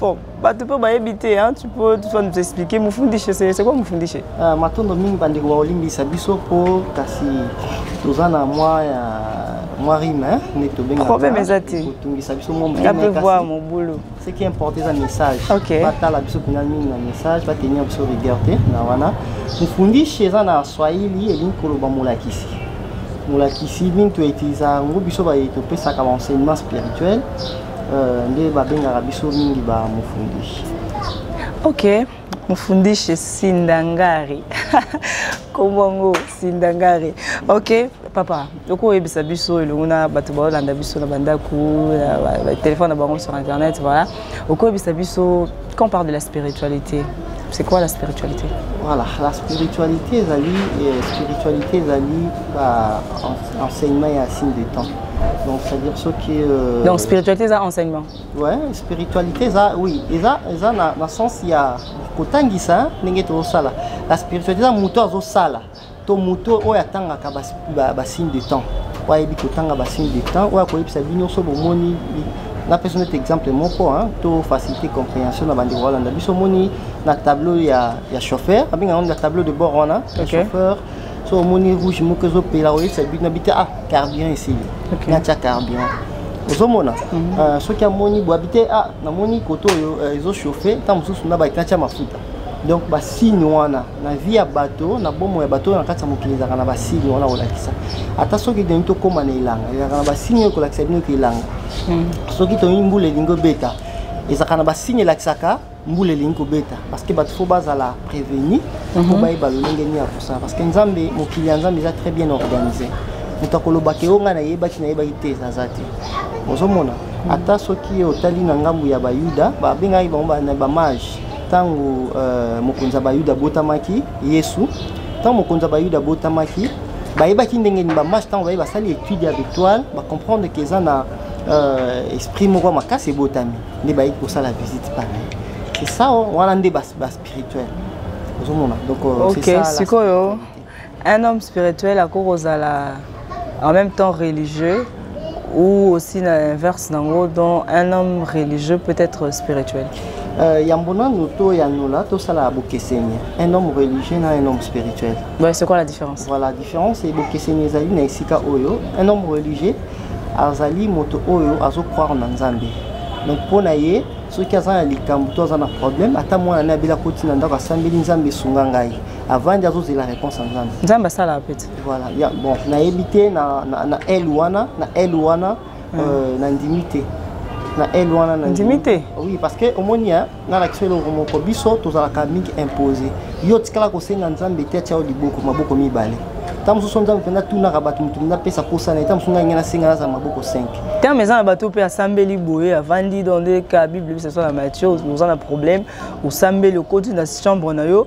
Bon, bato mpe bayebi te hein, tu peux tu vas nous expliquer mofundishe c'est quoi mofundishe uh, matondo mingi bandeko baolimbisa biso mpo kasi toza na mwa ya mwa rime hein, nde tobengaproblème eza te kotungisa biso mwa mope voir mobulu ce qui importe eza message okay. batala biso mpenza mingi na message batenir biso rigueur te na wana mofundishe eza na swahili elingi koloba molakisi molakisi mingi toetilisaka yango biso baye topesaka baenseignement spirituel Euh, nde babengaka biso mingi ba mofundishi ok mofundishi sindangari nkombo yango sindangari ok papa okoyebisa biso elongo na bato baolanda biso na bandako batelefone na bango sur internet voilà okoyebisa biso quand parle de la spiritualité C'est quoi la spiritualité Voilà, la spiritualité ezali euh, spiritualité ezali ba en- enseignement et un signe de temps. Donc c'est-à-dire ce qui euh, Donc spiritualité eza enseignement. ouais, spiritualité eza oui, eza eza na, na sens ya kotangisa hein, ndenge tozosala. La spiritualité eza moto azosala. to moto oyo atangaka basigne de temps oyo ayebi kotanga basigne de temps oyo akoyebisa bino so bomoni napesa neti exemple moko to facilité compréhension na bandeko balanda biso omoni na tableau ya, ya chauffeur abenga yango na tableau de bord wana okay. chauffeur so omoni rouge moko ezopela oyebisa bino nabi te ah carburant esili okay. natya carburant ozomona mm -hmm. uh, soki amoni boabi te ah namoni koto oyo uh, ezochauffe ntango mosusu na bakina tya mafuta donc basigne wana na vie ya bato na bomo ya bato oyo na kati ya mokili ezalaka na basigne wana kolakisa ata soki tolingi tokóma na elanga ezalaka na basigne oyo kolakisa bino ke elanga hmm. soki tolingi mbula elingi obeta ezalaka na basigne elakisaka mbula elingi kobeta parce que bato fo bazala prévenu mpo mhm. bayeba lolenge nini ya kosala parce que nzambe mokili ya nzambe eza très bien organisé moto akoloba ke yo ngai nayebaki nayebaki te ezaza te ozomona ata soki otali na ngambo ya bayuda babengaki bango bamage ntango uh, mokonzi ya bayuda abotamaki yesu ntango mokonzi ya bayuda abotamaki bayebaki ndenge nini bamashe ntango baye basali étude ya victoire bacomprendre ke eza na uh, esprit moko ya makasi ebotami nde bayei kosala visite pale c'est ça wana nde baspirituel ozomona donc euh, okay, sikoyo Un homme spirituel akoki kozala en même temps religieux ou aussi l'inverse nango dont un homme religieux peut être spirituel euh, yambo nanu toyanola tosala bokeseni un homme religieux na un homme spirituel ouais, c'est quoi la différence voilà différence e bokeseni ezali na esika oyo un homme religieux azali moto oyo azocroire na nzambe donc mpo na ye soki aza na likambo to aza na problème ata mwana ne abeli akoti na ndako asambeli nzambe esunga ngai avandi azozela réponse ya nzambe nzambe asalaka pete voilà ya bon nayebi te na, na, na l wana na l wana mm. euh, nandimi te na l wana nandimi te oui parce que omoni nalakisa eloko moko biso tozalaka mingi impose yo otikala kosenga nzambe te atya yo liboko maboko mibale ntango mosusu nzambe mpenza tunaka bato moto mpenza apesa mposa na ye ntango mosusu ngai ngai nasenga naza maboko 5 ntango eza na bato mpe asambeli boye avandi dans de ka bible bisaso na mathieu oza na problème osambeli okoti na chambre na yo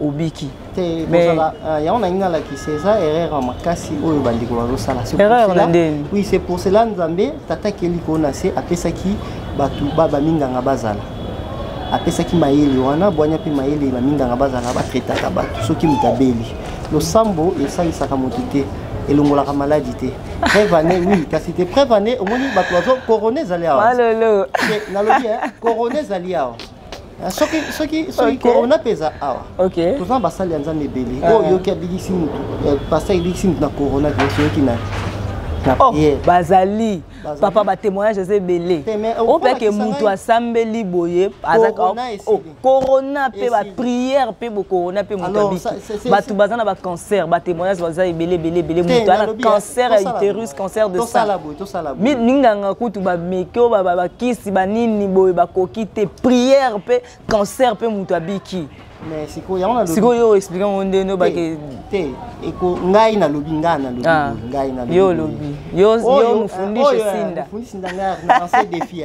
obiki te kozala euh, yango nalingi nalakisa eza erreur ya makasi oyo bandeko bazosala erreur na ndeni oui c'est pour cela nzambe tata keli kona se apesaki bato baminganga bazala apesaki mayele wana bwanya mpe mayele baminganga bazala batretaka bato soki moto abeli losambo esalisaka moto te elongolaka maladi te preuve année oui kasi te preuve année omoni bato bazo corona ezali awa nalobi corona ezali awa Ah, soki soki soki corona mpe eza awa toza na basali ya nzambe ebele ah. oyo oyoki abikisi motu eh, pasta ebikisi motu na corona virusi oyoki nani oh, bazali papa batémoignage eza ebele opeke motu asambeli boye corona oh, mpe baprière mpe bocorona mpe moto abiki bato baza na bacancer batémoignage baza ebele ebele ebele moto ana cancer ya uterus cancer de sang minganga kutu bameki oyo bakisi banini boye bakoki te prière mpe cancer mpe moto abiki sikoyo oyo explike yango nde no bake te eko ngai nalobi ngai nalobi ah. ngai nalobi yo olobi yo mofundisi sinda mofundisi nda ngai na lancer défi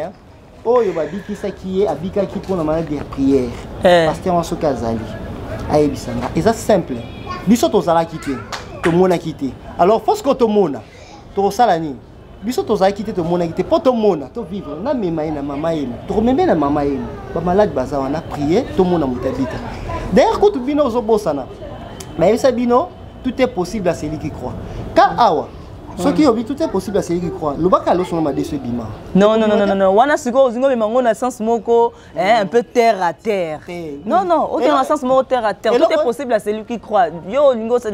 oyo babikisaki ye abikaki mpo na maladi ya priere eh. paster wana soki azali ayebisa nga eza simple biso tozalaki te tomonaki te alors fosko tomona tokosala nini biso tozalaki te tomonaki te mpo tomona tovivre namema ye na mama yema tokomeme na mama yema bamaladi baza wana prier tomona moto abika d'ailleurs kutu bino ozobosana bayebisa bino tout est possible à celui qui croit ka awa soki obi tout est possible à celui qui croit lobaka alosonga madeso ebima non non non non non wana sikoyo ozingo mema ngo na sens moko hein un peu terre à terre eh, non non oke na sens moko terre à terre tout est possible à celui qui croit yo olingo c'est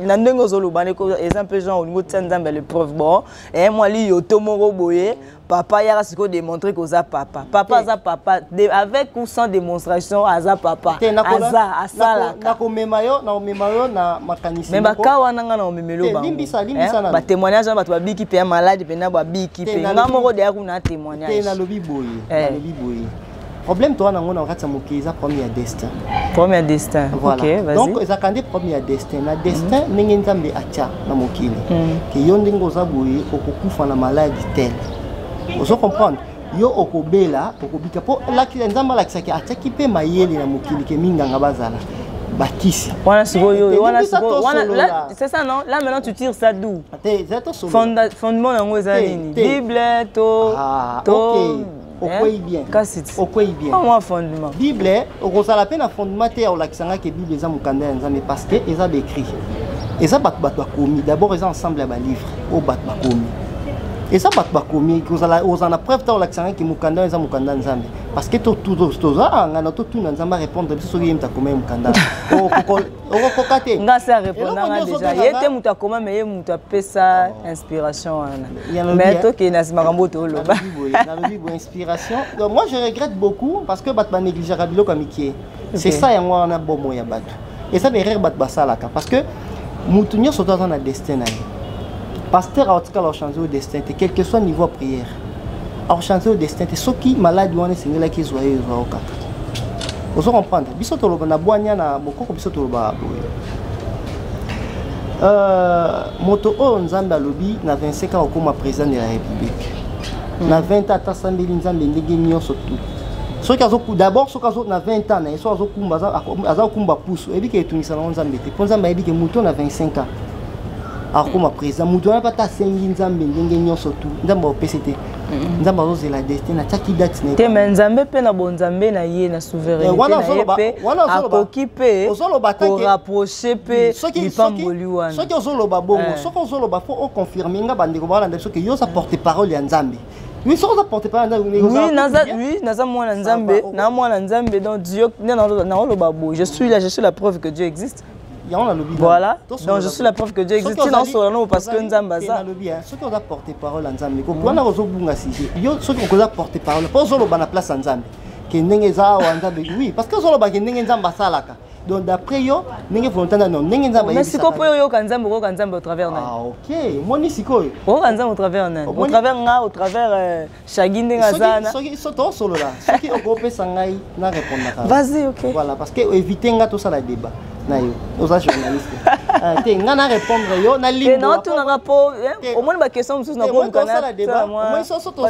na ndenge ozoloba ndeko eza un peu genre olingo tia nzambe le preuve bon eh moi li yo to moko boye papa yaka sikoyo démontre que oza papa papa aza papa de, avec ou sans démonstration aza papa aza asalaka nakomema yo nakomema yo na makanisi mais baka wana ngai nakomemelo bangobatémoignage wana bato babiki mpe ya maladi mpenza babiki mpe ngai moko deya kuna témoignage nalobi boye eh. nalobi boye problème toza nango na kati ya mokili eza problème ya destin problème ya destin voilà. okay, donc ezalaka nde problème ya destin na destin mm. ndenge nzambe atya na mokili mm. ke yo ndenge oza boye okokufa na maladi tel ozo comprendre yo okobela okobika mpo nzambe alakisaki atyaki mpe mayele na mokili ke minganga bazala bakisi wana sikoyo wana sikoyo wana c'est ça non là maintenant tu tires ça d'où fondement yango eza nini bible to ah, to okwei eh? bien kasi okwei bien mwa ah, fondement bible okozala mpe na fondement te ya kolakisa ngai ke bible eza mokanda ya nzambe parce que eza baécrit eza bato bato bakomi d'abord eza ensemble ya balivre oyo bato bakomi eza bato bakomi kozala ozala na preuve ntango olakisa ngai ke mokanda eza mokanda nzambe parce que toza angana totuna nzambe arépondre biso soki ye moto akomai mokanda okokoka te nga se arepondanga deja ye te moto akoma me ye moto apesa oh. inspiration wana mais tokende na nsima kambo tooloba nalobi boye inspiration donc moi je regrette beaucoup parce que bato banegligeaka biloko ya mikie c'est ça yango wana bomo ya bato eza baerreur bato basalaka parce que moto nyonso to aza na destin na ye pasteur aotikala ochange o destin te quelque soit niveau ya prière akochante yo destin te soki maladi wana esengelaki ezwa ye ezwa yo kaka ozo comprendre biso toloba na bwanya na bokoko biso toloba boye euh, moto oyo nzambe alobi na 25 ans okoma président de la république hmm. na 20 ans atasambeli nzambe ndenge nyonso tout soki d'abord soki azo na 20 ans na ye soki azokumba aza kokumba pusu oyebi ke etungisa nango nzambe te mpo nzambe ayebi ke moto na 25 ans akokoma président moto wana mpe ata asengi nzambe ndenge nyonso tu nzambe aopesi te mm-hmm. nzambe azozela destin atiaki date na te me nzambe mpe na bonzambe na ye na souveraineteakoki mpe korapproche mpe lipamboli wana soki ozoloba bongo eh. soki ozoloba fo oconfirme nga bandeko baolanda biso ke yo oza porte parole ya nzambe oui soki oza porte parole ya nzambe oui naza mwana nzambe na mwana nzambe donc dieu nde naoloba boye je suis là je suis la preuve que dieu existe yango nalobi voilà donc je suis la preuve que dieu existe tina osola nao parce que nzambe aza nalobi soki oza porte parole ya nzambe wana ozobunga sujet yo soki okoza porte parole mpo ozoloba na place ya nzambe ke ndenge eza awa nzambe oui parce que ozoloba ke ndenge nzambe asalaka donc d'après yo ndenge volonté na ndenge nzambe mais sikoyo mpo oyoka nzambe okoyoka nzambe au travers nani ah ok moni sikoyo okoyoka nzambe au travers nani au travers nga au travers euh, shagi ndenge azana soki tosolola soki okopesa ngai na repondaka vas-y ok voilà parce que éviter nga tosala débat na yo oza journaliste ah, te nga na répondre yo na limbnaotunaka mpo eh, omoni baquestion mosusu nakoomoni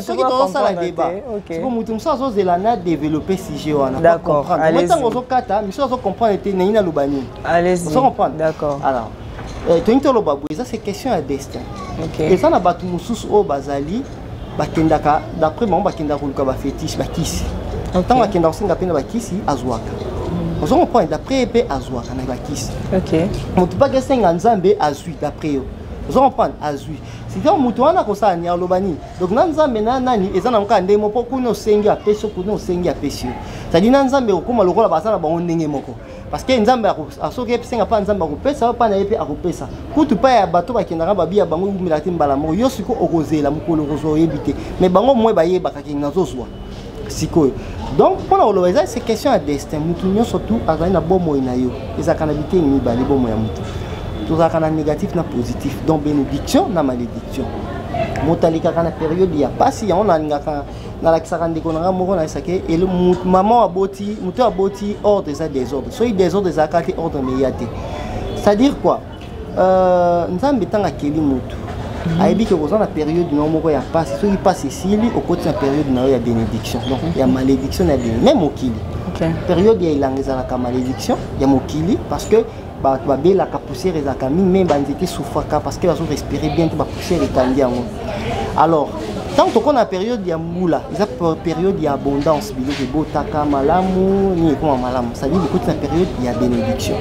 soki tozosala débat siko moto mosusu azozela na développe sujet wana comprendre ntango ozokata misusu azocomprendre te nani naloba nini ozo comprendre d'accord alors euh, toyingi toloba boye eza se question ya destin eza na bato mosusu oyo bazali bakendaka d'après bango bakendaka koluka bafetiche bakisi ntango akenda kosenga mpe na bakisi azwaka hmm. ozo comprendre d'après ye mpe azwaka na bakisi moto mpaki esenga nzambe azwi d'après yo ozo comprendre azwi sika moto wana akosala ni aloba nini donc na nzambe na nani eza na mokaa ndenge moko mpo kuna osengi apesi yo kuna osengi apesi yo cetadi na nzambe okokoma lokola baza na bango ndenge moko parce que nzambe soki esenga mpa nzambe akopesa yo mpa na ye mpe akopesa kutu mpa ya bato bakendaka babi ya bango eumelaka te mbala moko yo sikoyo okozela mokolo okozwa oyebi te mais bango moye bayebaka ke nazozwa sikoyo donc mpo na koloba eza se question ya destin motu nyonso tu azali na bomoi na yo ezalaka na biteni mibale bomoi ya motu tozalaka na négatif na positif donc bénédiction na malédiction moto alekaka na periode ya mpasi yango nalingaka nalakisaka ndeko na ngai moko nayesa ke mama aboti moto aboti ordre eza desordre soki desordre ezalaka te ordre meya te c'est-à-dire quoi euh, nzambe ntango akeli motu mhm. ayebi ke oza na periode na yo moko ya mpasi soki mpasi esili okoti na periode na yo ya bénédiction donc mhm. ya malédiction na ya bénédiction même mokili okay. periode ya elanga ezalaka malédiction ya mokili parce que bato babelaka poussière ezalaka mingi me banzete esufaka parce que bazo respire bien te bapoussière ekangi yango alors ntango tokona na periode ya mbula eza periode ya abondance biloko ebotaka malamu nini ekoma malamu sadi bokoti na periode ya bénédiction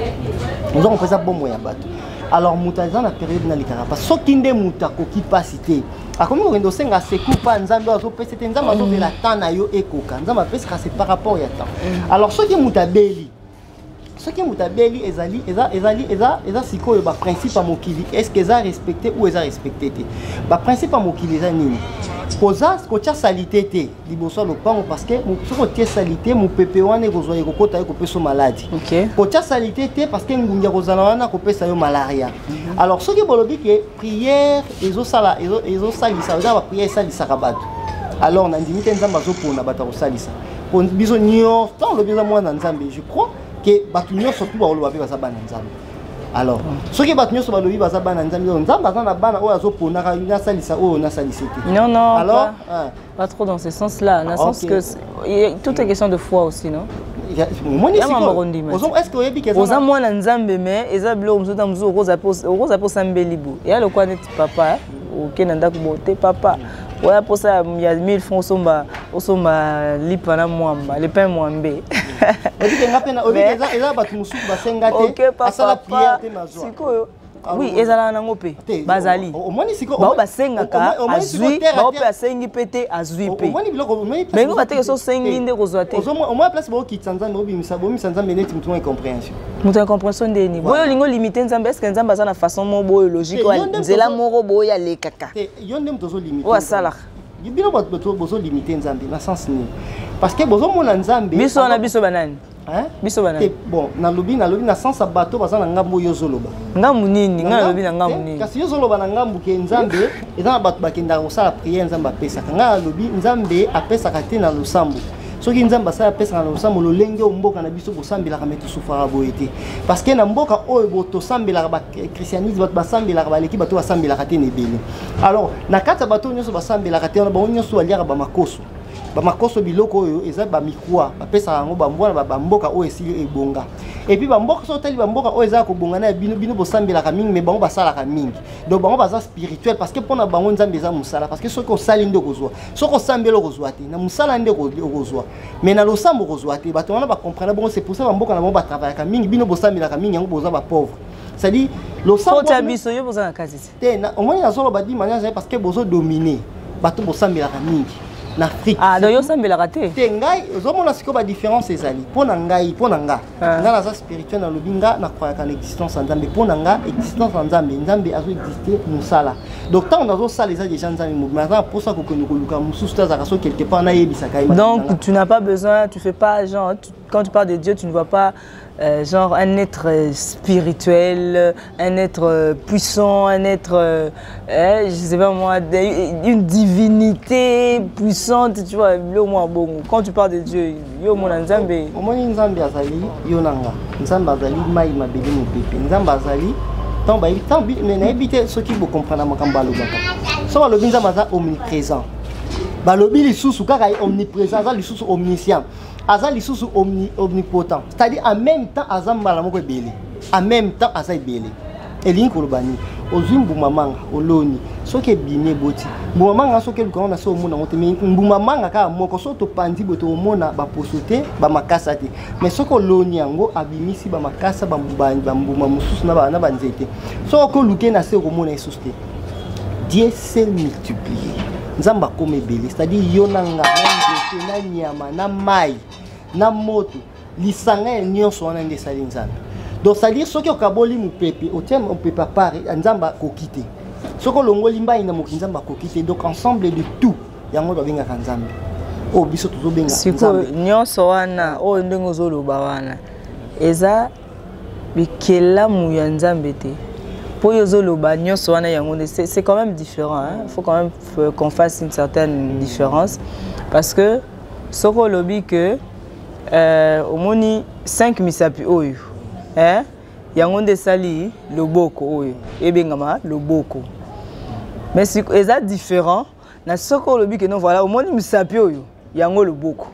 oza kompa eza bomo ya bato alors moto aza na periode nalikaka mpa soki nde moto akoki mpasi te akomi kokende osenga secour mpa nzambe azopesa te nzambe azobela temps na yo ekoka nzambe apesaka se par rapport ya temps mm. alors soki moto abeli soki moto abeli ezali eza ezali eza eza sikoyo baprincipe ya mokili estce eza respecte ou eza respecte te baprincipe ya mokili eza nini koza kotya salite te liboso ya lopango parce que soki otie salite mopepe wana ekozwa ekokota ye kopesa maladi kotya salite te parce que ngungi ya kozala wana akopesa yo malaria mhm. alors soki bolobi ke prière ezosala ezosalisa eza baprière esalisaka bato alors nandimi te nzambe azopona bato akosalisa mpo biso nyonso ntango olobi eza mwana na nzambe je crois ke bato nyonso tu bakoloba mpe baza bana nzambe alors soki bato nyonso balobi baza bana nzambe nzambe aza na bana oyo azoponaka nasalisa oyo nasalise te alors Pas trop dans ce sens-là, dans le sens que tout est question de foi aussi, non oza mwana nzambe me eza biloko mosusu ntango mosusu okoza mpe osambeli bo eya lokola neti papa oke na ndako bo te papa oya mposa ya 1000 franc osomba osomba lipa na mwamba lepin mwambe eza bato mosusu basenga te asala priere te mazwa sikoyo Ah, oui ezalaka nango mpe bazali bao basengaka azwi bao mpe asengi mpe te azwi mpe bango bateke so osengi nde kozwa te omoi place baokitisa nzambe obimisa bomisa nzambe neti motu na incomprehension moto ya comprehension nde nini boyo olingi olimite nzambe eske nzambe aza na façon moko boyo logique nzela moko boyo alekaka yo nde moto ozolimite oyo asalaka bino bozolimite nzambe na sens nini parce que bozomona nzambe biso wana biso banani Hein? biso bana bon nalobi nalobi na sens ya bato baza na ngambo oyo ozoloba ngambo nini ngai nalobi na ngambo nini kasi yo ozoloba na ngambo ke nzambe eza na bato bakendaka kosala priere nzambe apesaka ngai nalobi nzambe apesaka te na losambo soki nzambe asali apesaka na losambo lolenge oyo mboka na biso bosambelaka me tosufaka boye te parce que na mboka oyo bo tosambelaka bachristianisme bato basambelaka baleki bato basambelaka te na ebele alors na kati ya bato oyo nyonso basambelaka te wana bango nyonso baliaka bamakoso bamakoso biloko oyo eza bamikwa bapesaka yango bambwa na bamboka oyo esili ebonga epuis bamboka soki otali bamboka oyo ezalaka kobonga na ya bino bino bosambelaka mingi me bango basalaka mingi donc bango baza spirituel parce que mpo na bango nzambe eza mosala parce que soki osali nde okozwa soki osambeli okozwa te na mosala nde okozwa mais na losambo okozwa te bato wana bacomprena bongo c'est pour ça bamboka na bango batravaillaka mingi bino bosambelaka mingi yango boza bapauvre c'est à dire losambo biso yo boza na kati te te na omoni nazoloba di mania ezali parce que bozo domine bato bosambelaka mingi na afrique ah, donc yosambelaka te te ngai ozomona sikoyo badiférence ezali mpo na ngai mpo na nga ah. nga naza spirituel nalobi nga nakwayaka na existence ya nzambe mpo na nga existence ya nzambe nzambe azoexiste mosala donc ntango nazosala eza déjà nzambe mobi naza na mposa kokende koluka mosusu te azalaka so quelque part nayebisaka ye donc tu n'as pas besoin tu fais pas genre tu, quand tu parles de dieu tu ne vois pas Euh, genre un être euh, spirituel, un être euh, puissant, un être, euh, eh, je sais pas moi, une divinité puissante, tu vois, le moins bon. Quand tu parles de Dieu, yo mon Nzambe. Au moins Nzambe azali yonanga, Nzambe azali mai mabeli mupepe, Nzambe azali tant ba tant bi mais na habité ce qui vous comprendre makambo alobaka. So balobi Nzambe aza omniprésent. balobi lisusu kaka omniprésent aza lisusu omniscient aza lisusu omni, omnipotent c'est-à-dire en même temps aza mbala moko ebele en même temps aza ebele elingi koloba nini ozwi mbuma manga oloni soki ebimi eboti mbuma manga soki eluka ngo na se omona yango te mai mbuma manga kaka moko soki topanzi boye tokomona baposo te bamakasa te mai soki oloni yango abimisi bamakasa bambuma mosusu na banzete soki oki oluke na se okomona esusu te Dieu s'est multiplié. Nzamba comme ebele, c'est-à-dire yo na nga, na na nyama, na mai, na moto, lisanga ya nyonso wana nde esali Nzambe. Donc c'est-à-dire soki okaboli mopepe, otie mopepe à part, Nzamba akoki te. Soki olongoli mbai na moki Nzamba akoki te. Donc ensemble de tout, yango babengaka Nzambe. Oyo biso tozobenga Nzambe. Siko nyonso wana, oyo ndenge ozoloba wana, eza bikelamu ya nzambe te mpo yo ozoloba nyonso wana yango nde c'est quand même différent hein? faut quand même euh, qu'on fasse une certaine différence parce que soki olobi que euh, omoni 5 misapi oyo hein? yango nde esali loboko oyo ebengama loboko mais eza différent na soko olobi ke non voilà omoni misapi oyo yango loboko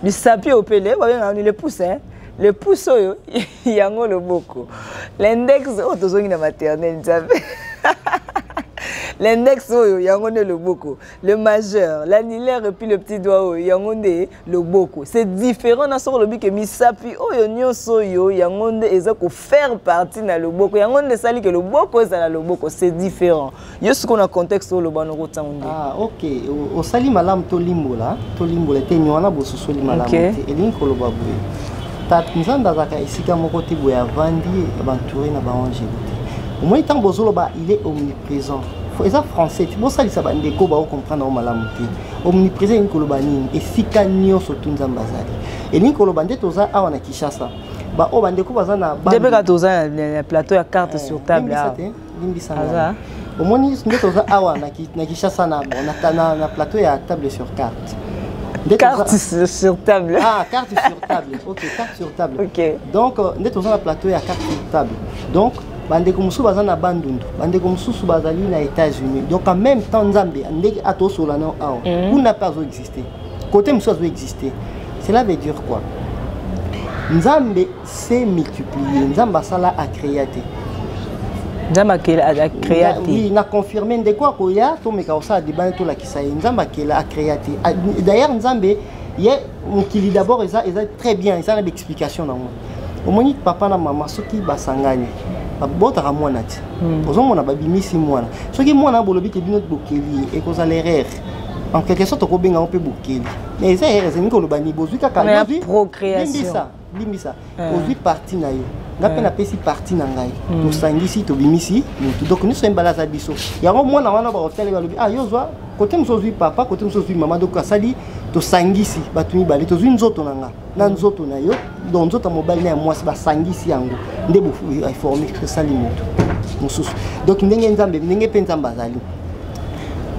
misapi oyo mpe le babengaka ni le pouce hein? le pouce oyo yango loboko l'index oyo oh, tozongi na maternel nzambe l'index oyo yango nde loboko le majeur l'annulaire epuis le petit doigt oyo yango nde loboko c'est différent na soko olobi ke misapi oyo nyonso oyo yango nde eza kof faire partie na loboko yango nde esali ke loboko ezala loboko c'est différent yo sikoyo na contexte oyo loba noko ntango nde ah, ok osali malamu tolimbola tolimbola te nywana bososoli malamu te elingi koloba boye tata nzambe azalaka esika moko te boye avandi bantoure na baangele te omoni ntango bozoloba il est omniprésent eza français ti bosalisa bandeko baocomprendre yango malamu te omniprésent elingi koloba nini esika nyonso tu nzambe azali elingi koloba nde toza awa na kinshasa ba oyo bandeko baza na nde mpe kaka toza na plateau ya carte eh, sur table awa limbisa aza omoni nde toza awa na kinshasa na na plateau ya table sur carte carte sur table ah carte sur table ok carte sur table ok donc euh, nde toza na plateau ya carte sur table donc bandeko mosusu baza na bandundu bandeko mosusu bazali na états-unis donc en même temps nzambe ndenge atosola nao awa mhm. kuna mpe azoexiste Côté mosusu azo exister. Cela veut dire quoi? Nzambe s'est multiplié, Nzambe asala a créer te. nzambe akela akrea te oui, na confirme ndeko akoya tomeka kosala debane tolakisa ye nzambe akela akrea te ah, d'ailleurs nzambe ye mokili d'abord eza, eza très bien eza na baexplication nango omoni papa na mama soki basangani babotaka mwana te hmm. ozomona babimisi mwana soki mwana bolobi te bino bokeli ye ekozala erreur en quelque sorte okobenga yango mpe bokeli mais eza ere elingi koloba ni bozwi kaka limbisa limbisa eh. ozwi parti na yo nga mpe eh. napesi parti na ngai hmm. tosangisi tobimisi motu donc nyonso ye mbala aza biso yango mwana wana bakotali balobi ah yo zwa kote mosusu ozwi papa kote mosusu ozwi mama donc asali tosangisi bato mibale tozwi nzoto na ngai na nzoto na yo donc nzoto ya mobali na ya mwasi basangisi yango nde eforme esali moto mosusu donc ndenge nzambe ndenge mpe nzambe azali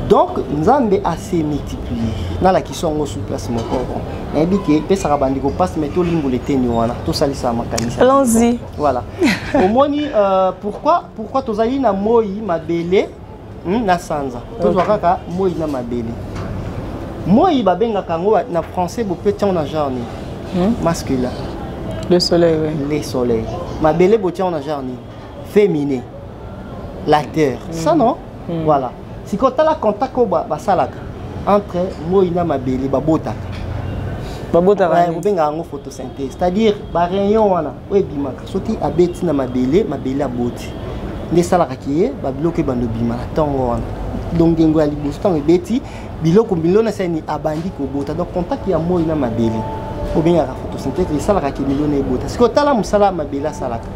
donc nzambe ase multiplier nalakisa yango sur place moko nayebi ke epesaka bandeko mpasi mai tolimbola eteni wana tosalisa makanisi allons-y voilà omoni euh, pourquoi pourquoi tozali na moi mabele hmm, na sanza tozwa kaka moi na mabele moi babengaka yango na français bope tiango na genre nini hmm? mascula le soleil oui. le soleil mabele botiango na genre nini féminin la terre mm. ça non mm. voilà sikoyo tala contact oyo basalaka entre moi na mabele babotaka babotaka kobengaka yango photosynthèse c'est-à-dire barayon wana oyo ebimaka soki abeti na mabele mabele aboti nde esalaka ke babiloko ebanda obima na ntongo wana donc ngengo ya liboso ntango ebeti biloko milona sani abandi kobota donc contact ya moi na mabele obengaka photosynthèse esalaka ke milona ebota sikoyo tala mosala ya mabele asalaka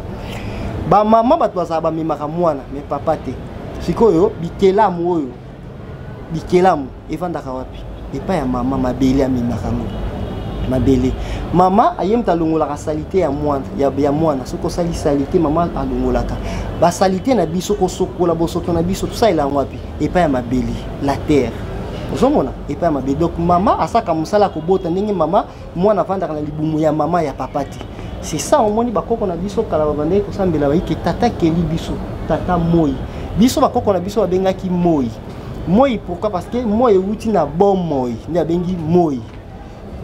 bamama bato bazala bamemaka mwana me papa te sikoyo bikelamu oyo bikelamu evandaka wapi epai ya mama mabele amemaka yango mabele mama aye moto alongolaka salite ya mwana, ya, ya mwana. soki osali salite mama alongolaka basalite na biso kosokola bosoto na biso tosalela yango wapi epai ya mabele la terre ozomona epai ya mabele donc mama asaka mosala kobota ndenge mama mwana avandaka na libumu ya mama ya papa te c'est ça omoni bakoko na biso kala babandaki kosambela bayike tata keli biso tata moi biso bakoko na biso babengaki moi moi pourquoi parce que moi euti na bomoi nde abengi moi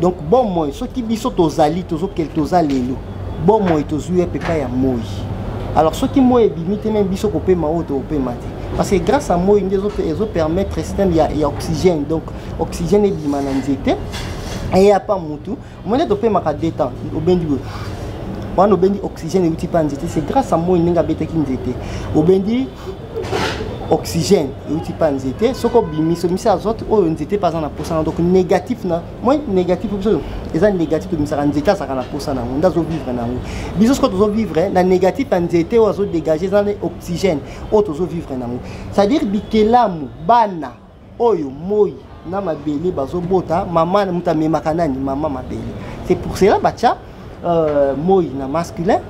donc bomoi soki biso tozali tozokele toza lelo bomoi tozwi ye mpepa ya moi alors soki moi ebimi te meme biso kopema oyo tokopema te parce que grâce à moi nde ezopermettre système ya, ya oxygène donc oxygène ebima na nzete eya pa mutu omoni ete opemaka deux temps obendi boye wana obendi oxygène euti mpa nzete c'est grâce à moi ndenge abetaki nzete obendi oxygène euti mpa nzete soki obimisi obimisi azote oyo nzete mpe aza na mposa na donc négatif na moi négatif biso eza négatif tobimisaka nzete azalaka na mposa na yango nde azovivre na yango biso soki tozovivre na négatif ya nzete oyo azodégage eza na oxygène oyo tozovivre na yango c'est-à-dire bikelamu bana oyo moi na mabele bazobota mama moto amemaka nani mama mabele c'est pour cela batya euh, moi na masculin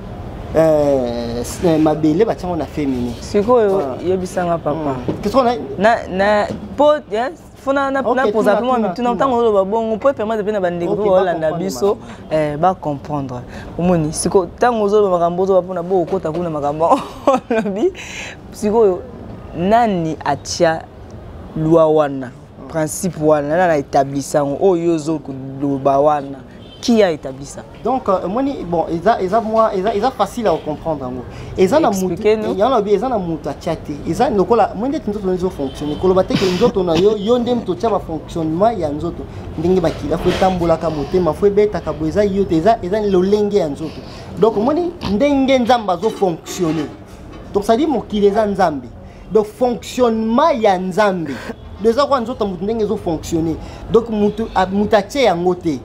euh, euh mabele batya ngo na féminin sikoyo ah. yebisanga papa hmm. na, na, po, yes. fona napoza mpe mwa mituna ntango oloba bongo mpo epermete mpe na bandeko mpe baolanda biso eh, bacomprendre omoni siko ntango ozoloba makambo ozoba mpona bokokota kuna makambo olobi sikoyo nani atia lwa wana principe wana nani na établissa yango oyo yo ozoloba wana qui a établi ça donc euh, moni bon eza eza moi eza eza facile à comprendre yango eza na mutu ya lobi eza na mutu atia te eza lokola moi ndeti nzoto na ezo fonctionner koloba te ke nzoto na yo yo nde moto otia ba fonctionnement ya nzoto ndenge bakila fo etambolaka motema fo ebetaka bo eza yo te eza eza lolenge ya nzoto donc omoni ndenge nzambe azo fonctionner donc ça dit mokili eza nzambe donc fonctionnement ya nzambe eza kwa nzoto moto ndenge ezofonctionne donc moto atye yango te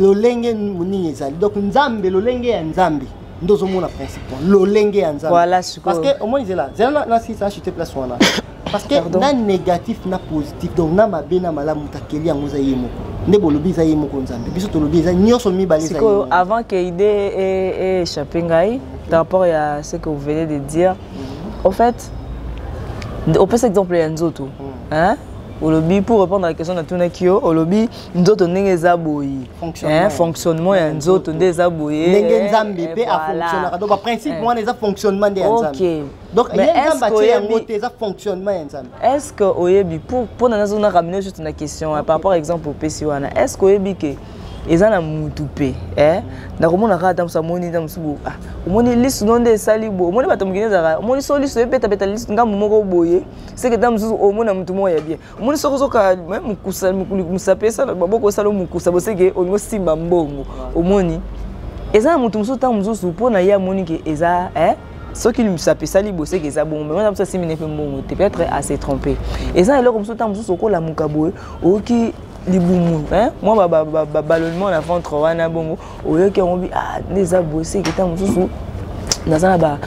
lolenge nini ezali donc nzambe lolenge ya nzambe nde ozomona principe lolenge ya nzambe parce que omoni zela zela na sisa achete place wana parce que na négatif na positif donc na mabe na malamu moto akeli yango eza ye moko nde bolobi eza ye moko nzambe biso tolobi eza nyonso mibale sikoyo avant que ide échappe ngai par rapport ya ce que vous venez de dire mhm. au fait opesa exemple ya nzoto mhm. hein olobi pour répondre à la question natunaki yo olobi nzoto ndenge eza boye fonctionnement ya nzoto nde eza boye ndenge nzambe mpe afonctionnaka donc baprincipe wana eza fonctionnement nde ya nzambe donc ye nzambe atie yango te eza fonctionnement ya nzambe est ce que oyebi mpona nazo na ramine juste na question par rapport à exemple opesi wana est ce que oyebi ke eza na mutu mpe eh? nakomona kaka ntango mosusu amoni ntango mosusu bo ah, omoni lisu no nde esali bo omoni bato mokili ezalaka omoni so lisu ebetabeta ngambo moko boye seke ntango mosusu omona motu moko ya bien omoni soki ozoka mosapi esala baboko esala mokusa boseke olingi osimba mbongo omoni eza na moto mosusu ntango mosusu mpo na ye amoni ke eza eh? soki misapi esali boseke eza bongo me wana mosusu asimbi ne mpe mbongo te peut-être ase trompe eza na eloko mosusu ntango mosusu okolamuka boye oyoki libumu mwa babalonnement na ventre wana bongo oyoki yango bi ah nde eza boye seke ntango mosusu naza na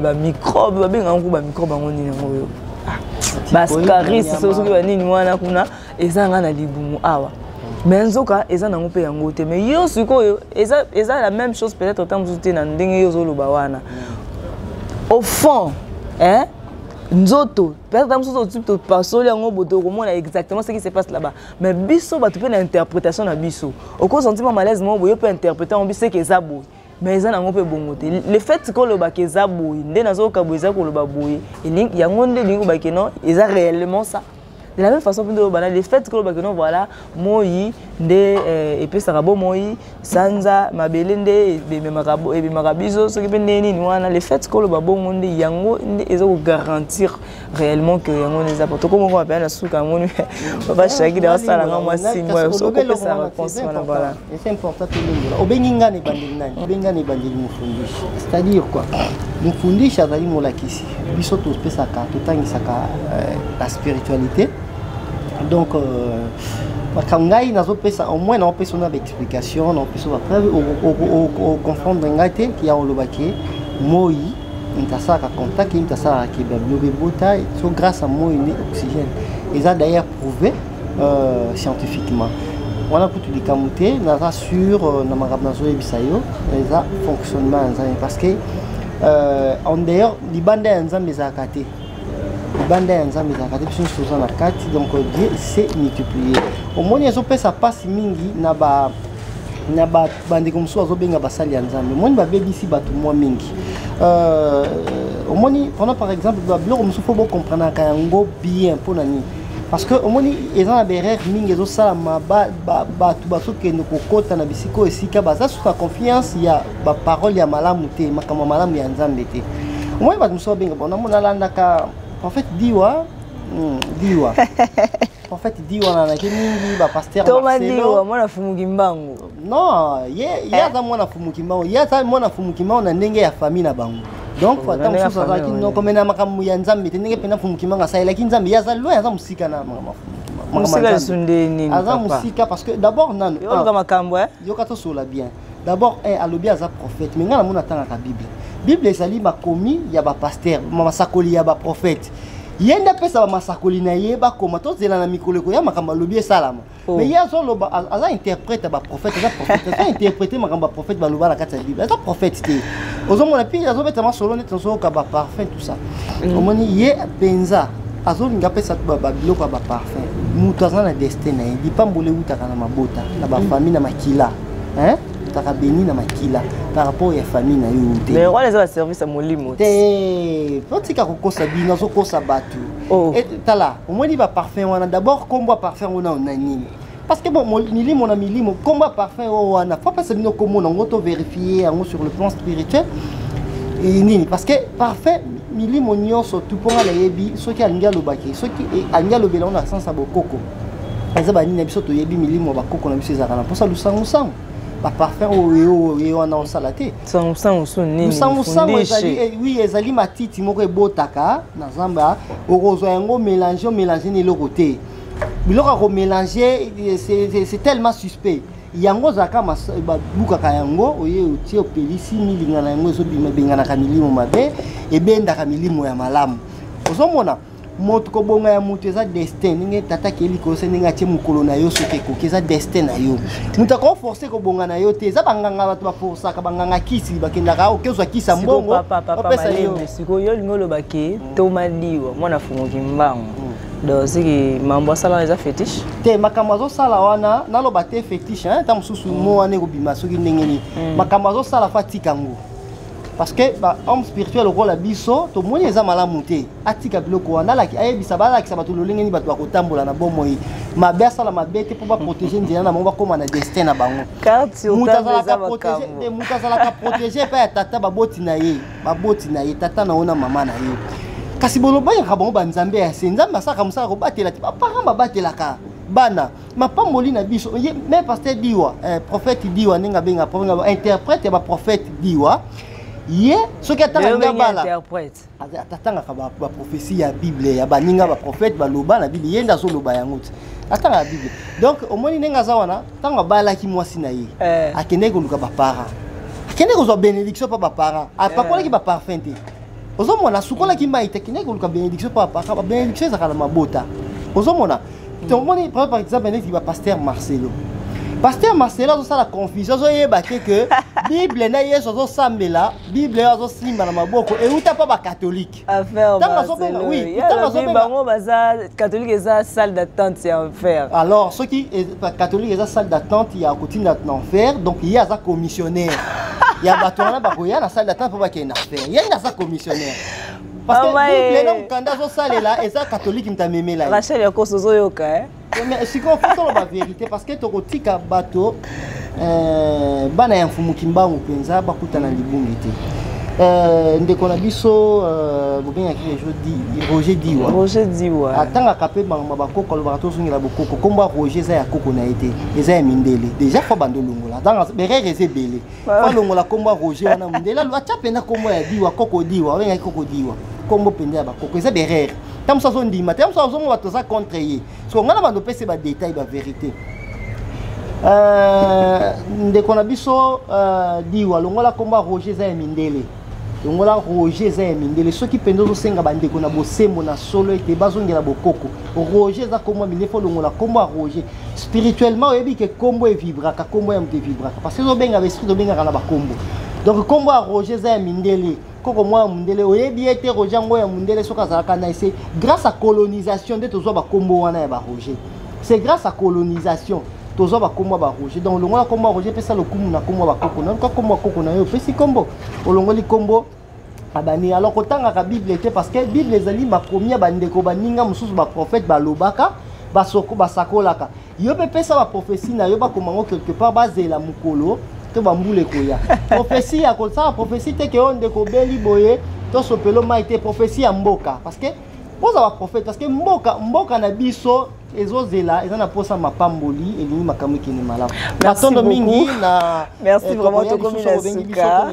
bamicrobe babenga yango bamicrobe yango nini yango oyo ah, bascaris soki banini wana kuna eza nga na libumu awa me nzoka eza nango mpe yango te me yo sikoyo eza la même chose peut-être ntango mosusu te na ndenge yo ozoloba wana au fond eh? nzoto peut-être ntango mosusu opasoli yango boto okomona exactement ce qui se passe là-bas mais biso bato mpe na interprétation na biso okosanti mwa malaise moko boye mpe interprete yango biso eke eza boye mais eza nango mpe bongo te le fait kolobaka eza boye nde nazoyoka boye eza koloba boye yango nde elingi kobaki non eza réellement ça de la même façon mpe nde olobana le fait kolobaki non voilà moi nde eh, epesaka bomoi sanza mabele nde ebemaka biso soki mpe ndenge nini wana le fait koloba bongo nde yango nde eza kogarantir réellement que yango nde eza poto komoko mapena na suka yango ni papa shaki de asala nga mwa simo okopesa réponse wana voilà obengi nga na ebandeli nani obengi nga na ebandeli mofundishi c'est à dire quoi mofundishi azali molakisi biso topesaka totangisaka euh, la spiritualité donc euh, makambo ngai nazopesa au moins naopesa na baexplication naopesa bapreuve oconfondre ngai te ya olobaki moi moto asalaka contact ye moto asalaka keba biloba ebota so grâce à moi nde oxygène eza d'ailleurs prouvé euh, scientifiquement wana kutu likambo te naza sur euh, na makambo nazoyebisa yo eza fonctionnement ya nzambe parce que euh, en dehors libanda ya nzambe ezalaka te libanda ya nzambe ezalaka te biso nyonso toza na kati donc dieu se multiplier omoni ezopesa mpasi mingi na ba na bandeko mosusu bazobenga basali ya nzambe omoni babebisi bato mwa mingi euh, omoni pendant par exemple babiloko mosusu mpo bokomprenaka yango bien mpo na nini parce que omoni eza na berere mingi ezosalama bato bazokende kokɔta na bisika oyo esika baza susu na confiance ya baparole ya malamu te makambo ya malamu ya nzambe te omoni bato mosusu babenga bona mona alandaka prophète diwa hmm, diwa prophète diwa nanaki mingi bapaster marcelo mwana fumuki mbangu non ye ye eh. aza mwana fumuki mbangu ye aza mwana fumuki mbangu na ndenge ya famille na bango donc ata mosusu azalaki noko me na makambo ya nzambe te ndenge mpenza fumuki mbangu asalelaki nzambe ye aza loin aza mosika na makambo mosika lisusu nde nini aza mosika parce que d'abord nanu yoka ah, makambo eh? yoka tosola bien d'abord eh, alobi aza prophète me ngai namoni atangaka bible bible ezali makomi ya bapaster masakoli ya baprophète ye nde apesa bamasakoli na ye bakoma tozela na mikolo ekoya makambo alobi esalama oh. mais ye azoloba aza interprète ya baprophète aza prophète aza interprète makambo baprophète baloba na kati ya bible aza prophète te ozomona mpe azobeta masolo neti nazoyoka baparfum tout ça mm. omoni ye mpenza azolinga apesa babiloko ya baparfum moto aza na destin na ye lipamboli ewutaka na mabota na bafamille na makila hein ozalaka beni na makila par rapport ya famille na yo te mais wana eza baservice ya molimo te otika kokosa bino azokosa bato oh. tala omoni baparfum wana d'abord nkombo ya parfum yango nao na nini parce que bon milimo na milimo nkombo ya parfum oyo wana fo apesa bino nkombo nango to verifie yango sur le plan spirituel nini parce que parfum milimo nyonso tu mpo nga nayebi soki alingi alobaki soki eh, alingi alobela yango na sansa bokoko eza banini na biso toyebi milimo ya bakoko na biso ezalaka na mposa lusangusangu baparfum oyo ye wana osala te lusangusangu ezali eh, wi ezali matiti moko ebotaka na zamba okozwa yango mélange omélange na eloko te biloko ya komélange c'est tellement suspect yango ozalaka babukaka yango oye otie opelisi milinga na yango ezobenganaka milimo mabe ebendaka milimo ya malamu ozomona moto kobonga ya moto eza destin ndenge tata akei likolo se ndenge atie mokolo na yo soki ekoki eza destin na yo moto akoo force kobonga na yo te eza banganga bato baforsaka banganga kisi bakendaka oke ozwa kisi ya mbongo opesa yosikoyo olingi oloba ke mm. toma liwa mwana afungoki mbango mm. donc soki mambo asala eza fétiche te makambo azosala wana naloba te fétiche ntango mosusu mm. mo wana ekobima soki ndenge nini makambo azosala fa atika yango parce que ba homme spirituel lokola biso tomoni eza malamu te atika biloko wana alaki ayebisa balakisa bato lolenge nini bato bakotambola na bomoi mabe asala mabe te mpo baprotege nzela na bango bakóma na destin na bango moto azalaka protege epai ya tata baboti na ye baboti na ye tata na yo na mama na ye kasi bolobangaka bango banzambe ya se nzambe asalaka mosala kobatela te baparent babatelaka bana mapamboli na biso me paster diwa eh, prophète diwa ndenge abenga interprète ya baprophète diwa ye soki atanga ngai bala atatangaka baprofesi ya bible ya baninga baprofete baloba na bible ye nde azoloba yango te atangaka bible donc omoni ndenge aza wana ntango abalaki mwasi na ye eh. akendaki koluka baparent akendaki kozwa bénédiction mpa baparent apakolaki eh. baparfum te ozomona asukolaki mai te akendaki koluka bénédiction mpa baparent babénédiction ezalaka na mabota ozomona hmm. tomoni par exemple neti bapaster marcelo paster marcelo azosala confusion azoyeba te ke bible na yesu azosambela bible azo simba na maboko euta mpa bakatolike bango baza katolike eza salle d'attente ya enfer alors soki e, katolike eza salle d'attente ya kotinda na enfer donc ye aza commissionnaire ya bato wana bakoya na salle d'attente mpo bakende na enfer ye nde aza commissionnaire parce que bible na mokanda azosalela eza katolike moto amemela ye rachel yakoso ozoyoka eh? sikoyo fo toloba verité parce que tokotika bato euh, bana ya mfumu kimbangu mpenza bakutana libungi te euh, ndeko na biso euh, bobengaki roger diwa roger diwa atangaka mpe bangama bakoko alobaka tozongela bokoko nkombo ya roger eza ya koko na ye te eza ya mindele déjà fo bando olongola donc berere eza ebele fo ah. alongola nkombo ya roger wana mindele atya mpenza nkombo ya diwa koko diwa obengaki koko diwa nkombo mpenza ya bakoko eza berere ntango mosusu azondima te ntango mosusu azomona bato aza contre ye soko ngai na bando opesi badetail baverité euh, ndeko na biso euh, diwa longola nkombo ya roger eza ya mindele longola roger eza ya mindele soki mpenza ozosenga bandeko na bosembo na solo ete bazongela bokoko roger eza nkombo ya mindele fo longola nkombo ya roger spirituellement oyebi ke nkombo evibraka nkombo ya moto evibraka parce que ezobenga baesprit tobengaka na bankombo donc nkombo ya roger eza ya mindele koko mwa ya mundele oyebi ye te roger yango ya mundele soki azalaka na ese grâce à colonisation nde tozwa bakombo wana ya baroger c'est grâce à colonisation tozwa bakombo ya baroger donc olongola kombo ya roger pesa lokumu na kombo ya bakoko na yoka kombo ya koko na yo opesi kombo olongoli kombo abani alors kotangaka bible te parce que bible ezali makomi ya bandeko baninga mosusu baprofete balobaka basakolaka yo mpe pesa baprofesi na yo bakoma yango quelque part bazela mokolo to bambula ekoya profesi ya kosala profesi te keyo ndeko obeli boye tosopelo mai te profesi ya mboka parce que oza baprofete parce que mboka mboka na biso ezozela eza na mposa mapamboli elingi makambo ekende malamu matondo mingi na merci eh, vraiment tokomi na suka